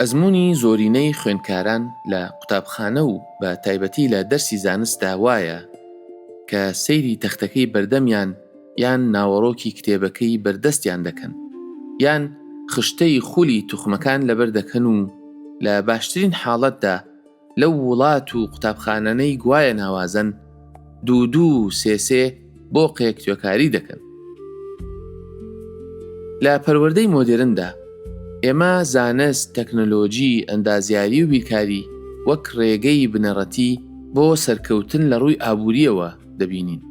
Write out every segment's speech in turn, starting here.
ئەزموونی زۆرینەی خوێندکاران لە قوتابخانە و بە تایبەتی لە دەرسی زانستدا وایە کە سەیری تەختەکەی بەردەمیان یان ناوەڕۆکی کتێبەکەی بەردەستیان دەکەن یان خشتەی خولی توخمەکان لەبەر دەکەن و لە باشترین حاڵەتدا لەو وڵات و قوتابخانانەی گوایە ناوازەن، دوو دوو و سێ سێ بۆقێک توێکاری دەکەن. لە پەروەردەی مۆدێرندا، ئێمە زانست، تەکنەلۆجی، ئەندازیاری و بیرکاری وەک ڕێگەی بنەڕەتی بۆ سەرکەوتن لە ڕووی ئابوورییەوە دەبینین.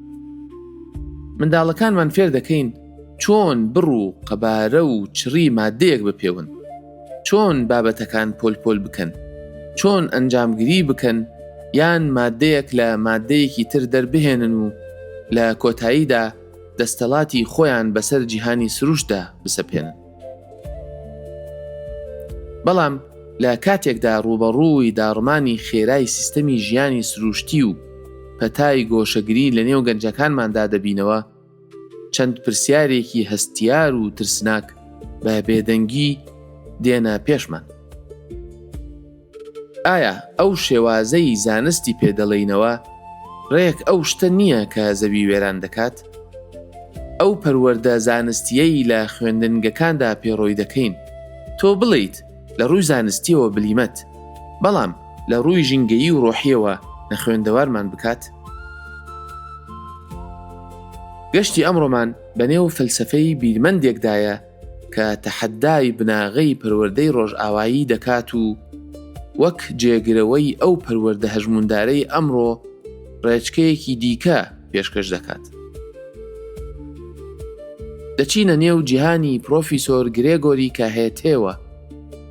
منداڵەکانمان فێر دەکەین چۆن بڕ و قەبارە و چڕی ماددەیەک بپێون، چۆن بابەتەکان پۆل پۆل بکەن، چۆن ئەنجامگری بکەن یان مادەیەک لە مادەیەکی تر دەربهێنن و لە کۆتاییدا دەستەڵاتی خۆیان بەسەر جیهانی سروشتدا بسەپێنن. بەڵام لە کاتێکدا ڕووبەڕووی داڕمانی خێرای سیستەمی ژیانی سروشتی و پەتای گۆشەگری لەنێو گەنجەکانماندا دەبینەوە، چەند پرسیارێکی هەستیار و ترسناک بە بێدەنگی دێنە پێشمان. ئایا ئەو شێوازەی زانستی پێدەڵێینەوە ڕێک ئەو شتە نییە کە زەوی وێران دەکات؟ ئەو پەروەەردە زانستیەی لە خوێندنگەکاندا پێڕۆی دەکەین تۆ بڵیت لە ڕووی زانستییەوە بلیمەت، بەڵام لە ڕووی ژینگەیی و ڕۆحییەوە نەخوێندەوارمان بکات؟ گەشتی ئەمڕۆمان بەنێو فەلسەفەی بیرمەندێکدایە کە تەحەدای بناغەی پەروەردەی ڕۆژئاوایی دەکات و وەک جێگرەوەی ئەو پەروەردە هەژمووندارەی ئەمڕۆ ڕێچکەیەکی دیکە پێشکەش دەکات. دەچینە نێو جیهانی پرۆفیسۆر گرێگۆری کاهێتێوە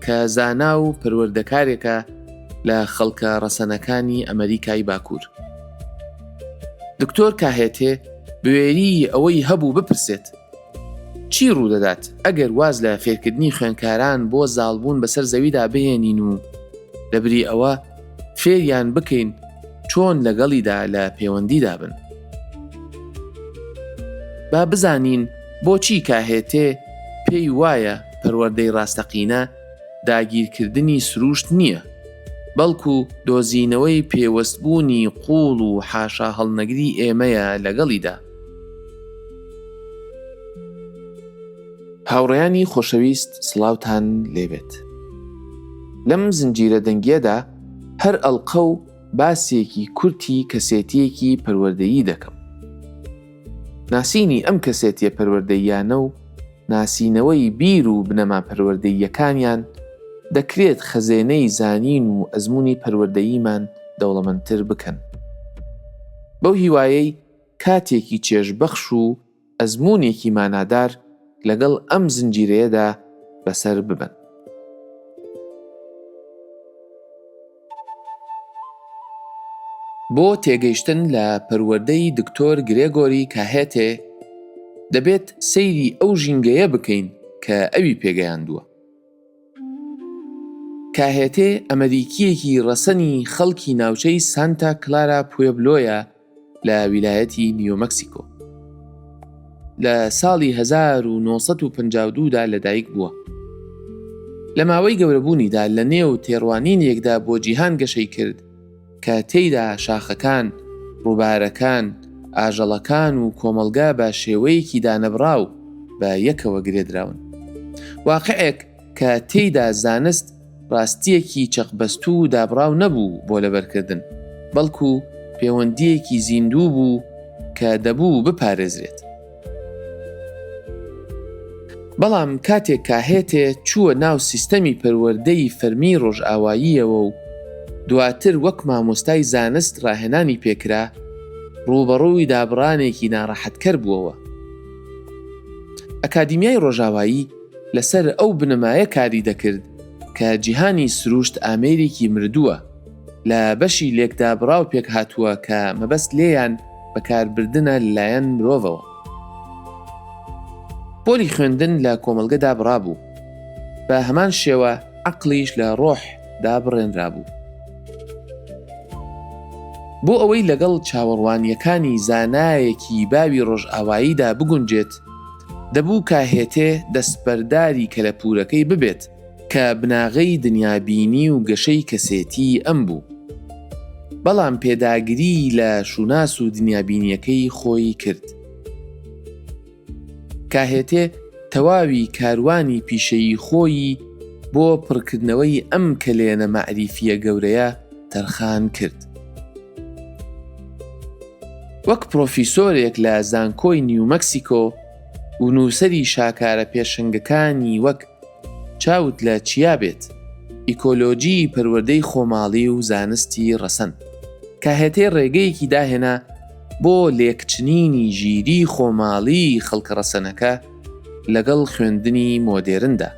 کە زانا و پەروەردەکارێکە لە خەڵکە ڕەسەنەکانی ئەمریکای باکوور. دکتۆر کاهێتێ بوێری ئەوەی هەبوو بپرسێت چی ڕوودەدات ئەگەر واز لە فێرکردنی خوێنکاران بۆ زاڵبوون بەسەر زەویدا بهێنین و لەبری ئەوە فێریان بکەین چۆن لەگەڵیدا لە پەیوەندیدا بن با بزانین بۆچی کاهێتێ پێی وایە پەروەردەی ڕاستەقینە داگیرکردنی سروشت نییە بەڵکو دۆزینەوەی پێوەستبوونی قوڵ و حاشا هەڵنەگری ئێمەیە لەگەڵیدا هاوڕێیانی خۆشەویست سڵاوتان لێبێت لەم زنجیرە دەنگیەدا هەر ئەڵقە و باسێکی کورتی کەسێتیەکی پەروەردەیی دەکەم ناسینی ئەم کەسێتیە پەروەردەییانە و ناسینەوەی بیر و بنەما پەروەردەییەکانیان دەکرێت خەزێنەی زانین و ئەزمونی پەروەردەییمان دەوڵەمەندتر بکەن بەو هیوایەی کاتێکی چێژبەخش و ئەزموونێکی مانادار لەگەڵ ئەم زنجیرەیەدا بەسەر ببەن. بۆ تێگەیشتن لە پەروەردەی دکتۆر گرێگۆری کاهێتێ، دەبێت سەیری ئەو ژینگەیە بکەین کە ئەوی پێگەیاندووە. کاهێتێ ئەمەریکییەکی ڕەسەنی خەڵکی ناوچەی سانتا کلارا پوێبلۆیە، لە ویلایەتی نیو مەکسیکۆ لە ساڵی 1952 دا لەدایک بووە لە ماوەی گەورەبوونیدا لە نێو تێڕوانین یەکدا بۆ جیهان گەشەی کرد کە تێیدا شاخەکان ڕووبارەکان ئاژەڵەکان و کۆمەلگا بە شێوەیەکی دانەبراو بە یەکەوە گرێدراون واقعێک کە تێیدا زانست ڕاستییەکی چەقبەستوو و دابڕاو نەبوو بۆ لەبەرکردن، بەڵکو پێوەندییەکی زیندوو بوو کە دەبوو بپارێزرێت. بەڵام کاتێک کاهێتێ چووە ناو سیستەمی پەروەردەی فەرمیی ڕۆژئاواییەوە و دواتر وەک مامۆستای زانست ڕاهێنانی پێ کرا، ڕووبەڕووی دابڕانێکی ناڕەحەتکەر بووەوە. ئەکادیمیای ڕۆژاوایی، لەسەر ئەو بنەمایە کاری دەکرد کە جیهانی سروشت ئامێرێکی مردووە لە بەشی لێکدابڕاو پێکهاتووە کە مەبەست لێیان بەکاربردنە لەلایەن مرۆڤەوە. پۆلی خوێندن لە کۆمەڵگە دابڕابوو، بە هەمان شێوە عەقڵیش لە ڕۆح دا بڕێنرابوو. بۆ ئەوەی لەگەڵ چاوەڕوانییەکانی زانایەکی باوی ڕۆژئاواییدا بگونجێت، دەبوو کە هێتێ دەستبەرداری کەلەپوورەکەی ببێت، کە بناغەی دنیابینی و گەشەی کەسێتیی ئەم بوو. بەڵام پێداگریی لە شووناس و دنیابینییەکەی خۆی کرد. کە هێتێ تەواوی کاروانی پیشەیی خۆیی بۆ پڕکردنەوەی ئەم کەلێنە مەعریفییە گەورەیە، تەرخان کرد. وەک پرۆفیسۆرێک لە زانکۆی نیو مەکسیکۆ و نووسەری شاکارە پێشەنگەکانی وەک چاوت لە چیا بێت، ئیکۆلۆژیی پەروەردەی خۆماڵی و زانستی ڕەسەن، کاهێتێ ڕێگەیەکی داهێنا بۆ لێکچنینی ژیریی خۆماڵیی خەڵکە ڕەسەنەکە، لەگەڵ خوێندنی مۆدێرندا.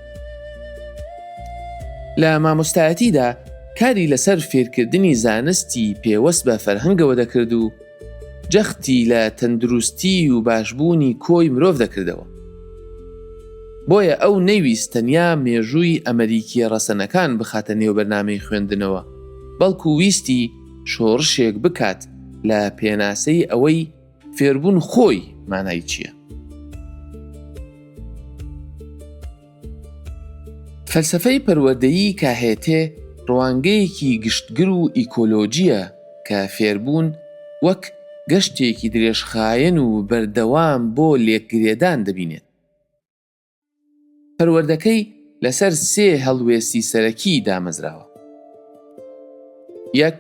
لە مامۆستایەتیدا کاری لەسەر فێرکردنی زانستی پێوەست بە فەرهەنگەوە دەکرد و جەختی لە تەندروستی و باشبوونی کۆی مرۆڤ دەکردەوە. بۆیە ئەو نەیویست تەنیا مێژووی ئەمەریکیە ڕەسەنەکان بخاتە نێو بەرنامەی خوێندنەوە، بەڵکو ویستی شۆڕشێک بکات لە پێناسەی ئەوەی، فێربوون خۆی مانای چییە؟ فەلسفەی پەروەدەیی کاهێتێ ڕوانگەیەکی گشتگر و ئیکۆلۆژیە کە فێربوون وەک گەشتێکی درێژخایەن و بەردەوام بۆ لێکگرێدان دەبینێت. پەروەردەکەی لەسەر سێ هەڵوێستی سەرەکی دامەزراوە. یەک،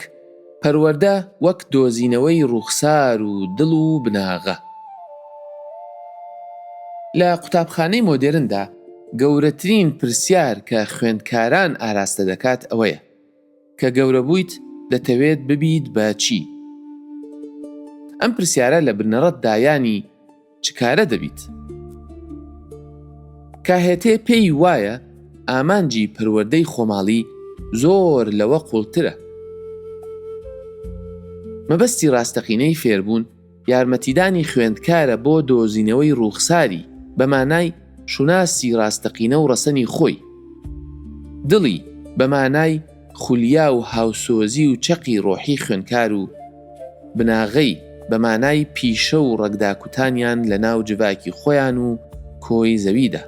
پەروەردە وەک دۆزینەوەی ڕووخسار و دڵ و بناغە. لە قوتابخانەی مۆدێرندا گەورەترین پرسیار کە خوێندکاران ئاراستە دەکات ئەوەیە، کە گەورە بوویت دەتەوێت ببیت بە چی؟ ئەم پرسیارە لە بنەڕەت دا یانی چ کارە دەبیت؟ کاهێتێ پێی وایە ئامانجی پەروەردەی خۆماڵی زۆر لەوە قووڵترە. مەبەستی ڕاستەقینەی فێربوون، یارمەتیدانی خوێندکارە بۆ دۆزینەوەی ڕووخساری بە مانای شوناسی ڕاستەقینە و ڕەسەنی خۆی. دڵی، بە مانای خولیا و هاوسۆزی و چەقی ڕۆحی خوێنکار و بناغەی، بە مانای پیشە و ڕەگداکوتانیان لە ناو جڤاکی خۆیان و کۆی زەویدا.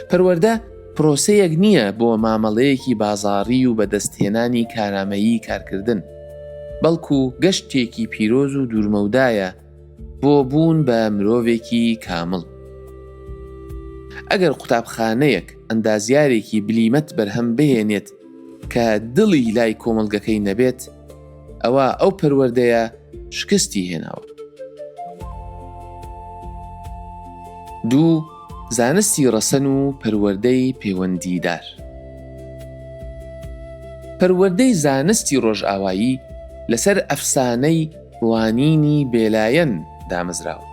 پەروەردە پرۆسەیەک نییە بۆ مامەڵەیەکی بازاڕی و بەدەستهێنانی کارامەیی کارکردن، بەڵکو گەشتێکی پیرۆز و دوورمەودایە بۆ بوون بە مرۆڤێکی کامڵ. ئەگەر قوتابخانەیەک ئەندازیارێکی بلیمەت بەرهەم بهێنێت کە دڵی لای کۆمەڵگەکەی نەبێت، ئەوە ئەو پەروەردەیە شکستی هێناوە دوو زانستی ڕەسەن و پەروەردەی پەیوەندیدار پەروەردەی زانستی ڕۆژئاوایی لەسەر ئەفسانەی ڕوانینی بێلایەن دامەزراوە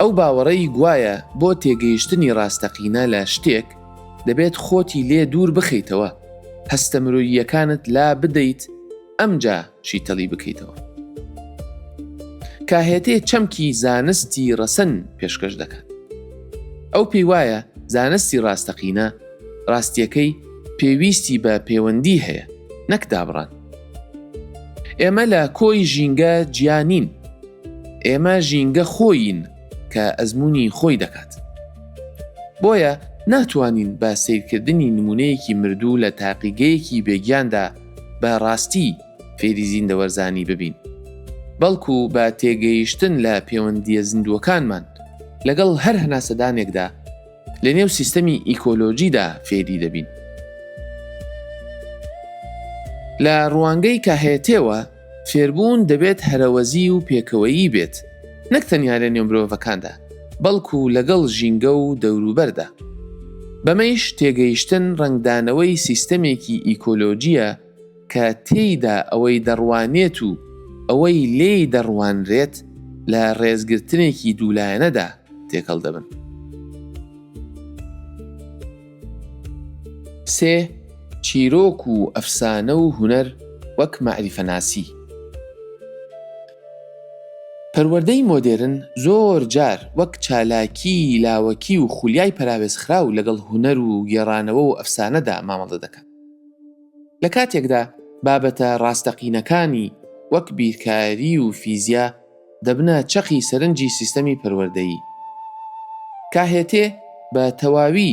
ئەو باوەڕەی گوایە بۆ تێگەیشتنی ڕاستەقینە لە شتێک دەبێت خۆتی لێ دوور بخەیتەوە هەستە مرۆییەکانت لا بدەیت ئەمجا شیتەڵی بکەیتەوە کاهێتێ چەمکی زانستی ڕەسەن پێشکەش دەکات ئەو پێی وایە زانستی ڕاستەقینە ڕاستیەکەی پێویستی بە پەیوەندی هەیە نەک دابڕان ئێمە لە کۆی ژینگە جیانین ئێمە ژینگە خۆین کە ئەزمموی خۆی دەکات بۆیە ناتوانین بە سیرکردنی نمونەیەکی مردوو لە تاقیگەیەکی بێگیاندا بە ڕاستی فێری زیندەوەرزانی ببین بەڵکو بە تێگەیشتن لە پەیوەندیە زیندووەکانمان لەگەڵ هەر هەناسەدانێکدا لە نێو سیستەمی ئیکۆلۆژیدا فێری دەبین لە ڕوانگەی کاهێتێەوە فێربوون دەبێت هەرەوەزی و پێکەوەیی بێت، نەک تەنیا لە نێو مرۆڤەکاندا، بەڵکو لەگەڵ ژینگە و دەوروبەردا. بەمەیش تێگەیشتن ڕەنگدانەوەی سیستەمێکی ئیکۆلۆجییە کە تێیدا ئەوەی دەڕوانێت و ئەوەی لێی دەڕوانرێت لە ڕێزگرتنێکی دوولایەنەدا تێکەڵ دەبن. سێ، چیرۆک و ئەفسانە و هونەر وەک مەعریفەناسی. پەروەردەی مۆدێرن زۆر جار وەک چالاکی لاوەکی و خولیای پەراوێزخراو لەگەڵ هونەر و گێڕانەوە و ئەفسانەدا مامەڵە دەکات. لە کاتێکدا بابەتە ڕاستەقینەکانی وەک بیرکاری و فیزیا، دەبنە چەقی سەرنجی سیستەمی پەروەردەیی. KHT بە تەواوی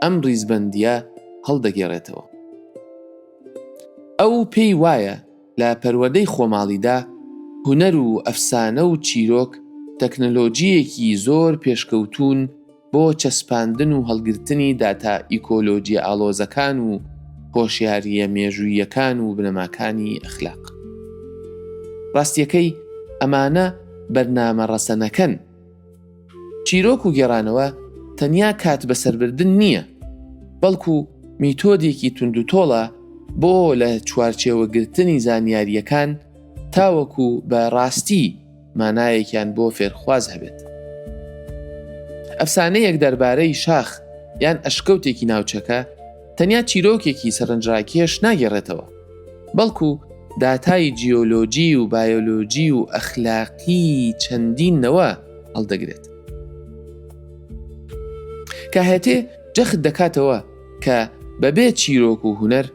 ئەم ڕیزبەندییە هەڵدەگێڕێتەوە. ئەو پێی وایە لە پەروەردەی خۆماڵیدا هونەر و ئەفسانە و چیرۆک تەکنەلۆجییەکی زۆر پێشکەوتوون، بۆ چەسپاندن و هەڵگرتنی داتا ئیکۆلۆجییە ئاڵۆزەکان و هۆشیارییە مێژووییەکان و بنەماکانی ئەخلاق. ڕاستییەکەی ئەمانە بەرنامە ڕەسەنەکەن. چیرۆک و گێڕانەوە تەنیا کات بەسەربردن نییە، بەڵکو میتۆدێکی توندوتۆڵە بۆ لە چوارچێوەگرتنی زانیارییەکان تاوەکو بە ڕاستی مانایەکیان بۆ فێرخواز هەبێت ئەفسانەیەک دەربارەی شاخ یان ئەشکەوتێکی ناوچەکە تەنیا چیرۆکێکی سەرنجڕاکێش ناگەڕێتەوە بەڵکو داتای جیۆلۆجی و بایۆلۆجی و ئەخلاقی چەندینەوە هەڵدەگرێت کە هەتێ جەخت دەکاتەوە کە بەبێ چیرۆک و هوەر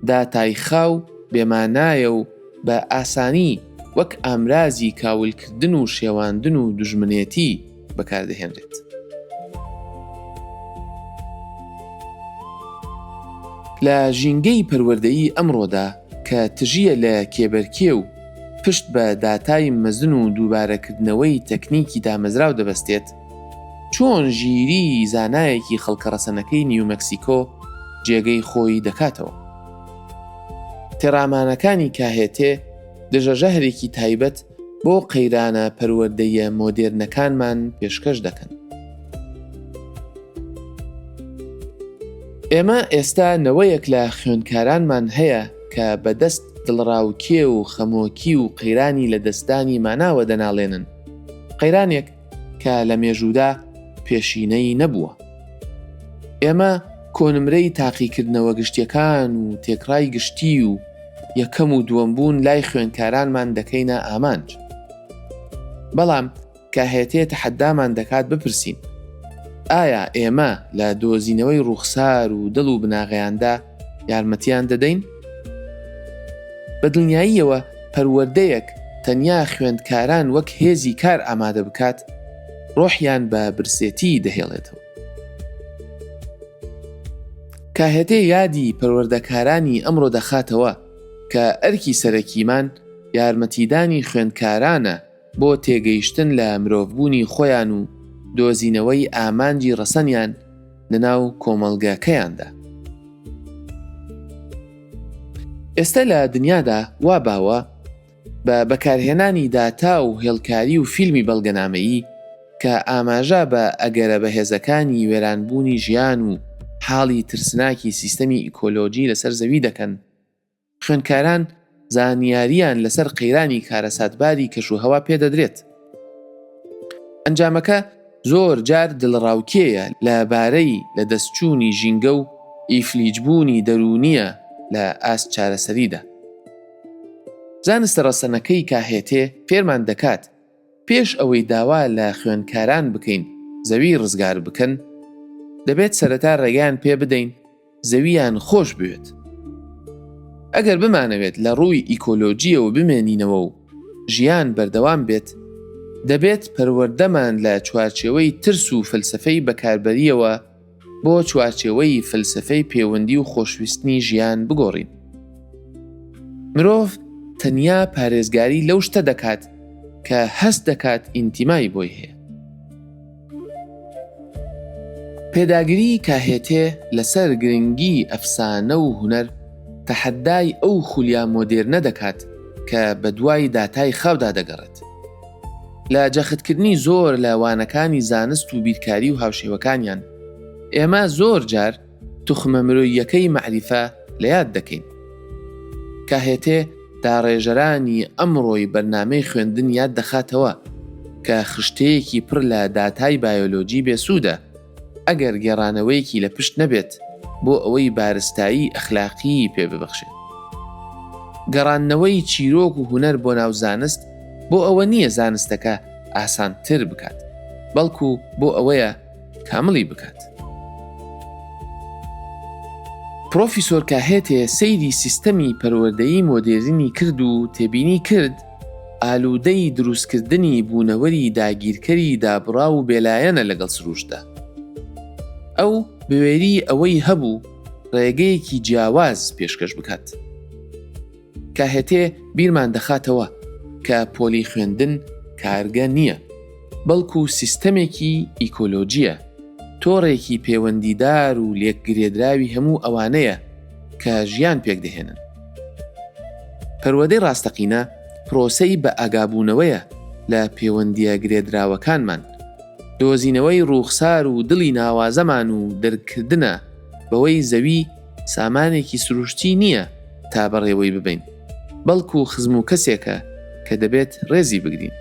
داتای خاو بێمانایە و بە ئاسانی وەک ئامرازی کاولکردن و شێواندن و دوژمنێتی بەکاردەهێنرێت. لە ژینگەی پەروەردەیی ئەمڕۆدا کە تژییە لە کێبەرکێ و پشت بە داتای مەزن و دووبارەکردنەوەی تەکنیکی دامەزراو دەبەستێت، چۆن ژیری زانایەکی خەڵکە ڕەسەنەکەی نیومەکسیکۆ جێگەی خۆی دەکاتەوە. تێڕامانەکانی کاهێتێ دژەژەهرێکی تایبەت بۆ قەیرانە پەروەردەییە مۆدێرنەکانمان پێشکەش دەکەن. ئێمە ئێستا نەوەیەک لە خوێندکارانمان هەیە کە بەدەست دڵڕاوکێ و خەمۆکی و قەیرانی لە دەستدانی ماناوە دەناڵێنن. قەیرانێک کە لە مێژوودا پێشینەی نەبووە. ئێمە کۆنمرەی تاقیکردنەوە گشتیەکان و تێکڕای گشتی و یەکەم و دووەم بوون لای خوێنکارانمان دەکەینە ئامانج. بەڵام کاهێتێ تەحەدامان دەکات بپرسین ئایا ئێمە لە دۆزینەوەی ڕووخسار و دڵ و بناغەیاندا یارمەتیان دەدەین؟ بە دڵنیاییەوە پەروەردەیەک تەنیا خوێندکاران وەک هێزی کار ئامادە بکات، ڕۆحیان بە برسێتی دەهێڵێتەوە. کاهێتێ یادی پەروەردەکارانی ئەمڕۆ دەخاتەوە کە ئەرکی سەرەکیمان یارمەتیدانی خوێندکارانە بۆ تێگەیشتن لە مرۆڤبوونی خۆیان و دۆزینەوەی ئامانجی ڕەسەنیان لەناو کۆمەڵگەکەیاندا. ئێستە لە دنیادا وا باوە بە بەکارهێنانی داتا و هێڵکاری و فیلمی بەڵگەنامەیی کە ئاماژە بە ئەگەرە بەهێزەکانی وێرانبوونی ژیان و حاڵی ترسناکی سیستەمی ئیکۆلۆجی لەسەر زەوی دەکەن، خوێندکاران زانیارییان لەسەر قەیرانی کارەساتباری کەشوهەوا پێدەدرێت. ئەنجامەکە زۆر جار دڵەڕاوکێیە لەبارەی لەدەستچوونی ژینگە و ئیفلیجبوونی دەروونییە لە ئاست چارەسەریدا. زانستە ڕەسەنەکەی کاهێتێ فێرمان دەکات، پێش ئەوەی داوا لە خوێندکاران بکەین زەوی ڕزگار بکەن، دەبێت سەرەتا ڕێگەیان پێبدەین، زەوییان خۆش بوێت. ئەگەر بمانەوێت لە ڕووی ئیکۆلۆژییەوە بمێنینەوە و ژیان بەردەوام بێت، دەبێت پەروەردەمان لە چوارچێوەی ترس و فەلسەفەی بەکاربەرییەوە بۆ چوارچێوەی فەلسەفەی پێوەندی و خۆشویستنی ژیان بگۆڕین. مرۆڤ تەنیا پارێزگاری لەو شتە دەکات کە هەست دەکات ئینتیمای بۆی هەیە. پێداگریی کاهێتێ لەسەر گرنگیی ئەفسانە و هونەر، تەحەدای ئەو خولیا مۆدێرنە دەکات کە بەدوای داتای خاودا دەگەڕێت. لە جەختکردنی زۆر لە وانەکانی زانست و بیرکاری و هاوشێوەکانیان، ئێمە زۆر جار، توخمە مرۆییەکەی مەعریفە لە یاد دەکەین. کاهێتێ داڕێژەرانی ئەمڕۆی بەرنامەی خوێندن یاد دەخاتەوە کە خشتەیەکی پڕ لە داتای بایۆلۆجی بێسوودە ئەگەر گێڕانەوەیەکی لە پشت نەبێت بۆ ئەوەی بارستایی ئەخلاقیی پێ ببەخشێت. گەڕاندنەوەی چیرۆک و هونەر بۆ ناو زانست بۆ ئەوە نییە زانستەکە ئاسانتر بکات، بەڵکوو بۆ ئەوەیە، کاملی بکات. پرۆفیسۆر کاهێتێ سەیری سیستەمی پەروەردەیی مۆدێرنی کرد و تێبینی کرد ئالوودەی دروستکردنی بوونەوەری داگیرکەری دابڕا و بێلایەنە لەگەڵ سروشتدا. ئەو بوێری ئەوەی هەبوو ڕێگەیەکی جیاواز پێشکەش بکات. کاهەتێ بیرمان دەخاتەوە کە پۆلی خوێندن کارگە نییە، بەڵکو سیستەمێکی ئیکۆلۆژییە، تۆڕێکی پێوەندیدار و لێکگرێدراوی هەموو ئەوانەیە کە ژیان پێکدەهێنن. پەروەدەی ڕاستەقینە پرۆسەی بەئاگابوونەوەیە لە پێوەندییە گرێدراوەکانمان، دۆزینەوەی ڕووخسار و دڵی ناوازەمان و دەرککردنە بەوەی زەوی، سامانێکی سروشتی نییە تا بەڕێوەی ببەین، بەڵکو خزم و کەسێکە کە دەبێت ڕێزی بگرین.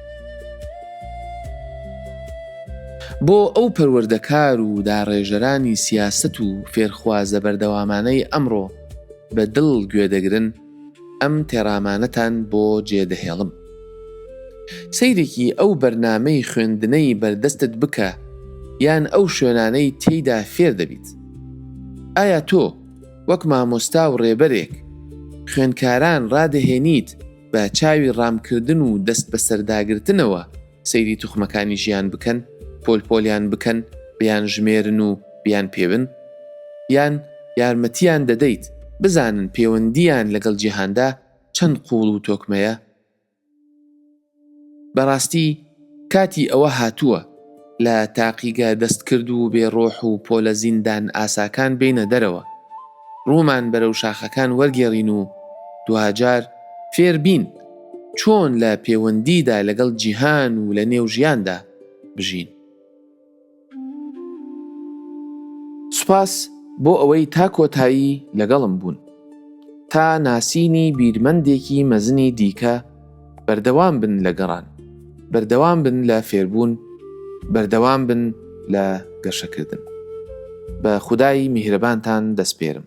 بۆ ئەو پەروەردەکار و داڕێژەرانی سیاسەت و فێرخوازە بەردەوامانەی ئەمڕۆ بە دڵ گوێدەگرن، ئەم تێڕامانەتان بۆ جێ دەهێڵم. سەیرێکی ئەو بەرنامەی خوێندنەی بەردەستت بکە یان ئەو شوێنانەی تێیدا فێر دەبیت. ئایا تۆ وەک مامۆستا و ڕێبەرێک خوێندکاران ڕادەهێنیت بە چاوی ڕامکردن و دەستبەسەرداگرتنەوە، سەیری توخمەکانی ژیان بکەن، پۆل پۆلیان بکەن، بیان ژمێرن و بیان پێون؟ یان یارمەتیان دەدەیت بزانن پێوەندییان لەگەڵ جیهاندا چەند قووڵ و تۆکمەیە؟ بەڕاستی کاتی ئەوە هاتووە لە تاقیگە دەستکرد و بێ ڕۆح و پۆلە زیندان ئاساکان بێینە دەرەوە، ڕوومان بەرەو شاخەکان وەرگێڕین و دواجار فێر بین چۆن لە پێوەندیدا لەگەڵ جیهان و لە نێو ژیاندا بژین. سوپاس بۆ ئەوەی تا کۆتایی لەگەڵم بوون. تا ناسینی بیرمەندێکی مەزنی دیکە، بەردەوام بن لە گەڕان بەردەوام بن لە فێربوون بەردەوام بن لە گەشەکردن بە خودایی میهرەبانتان دەستپێرم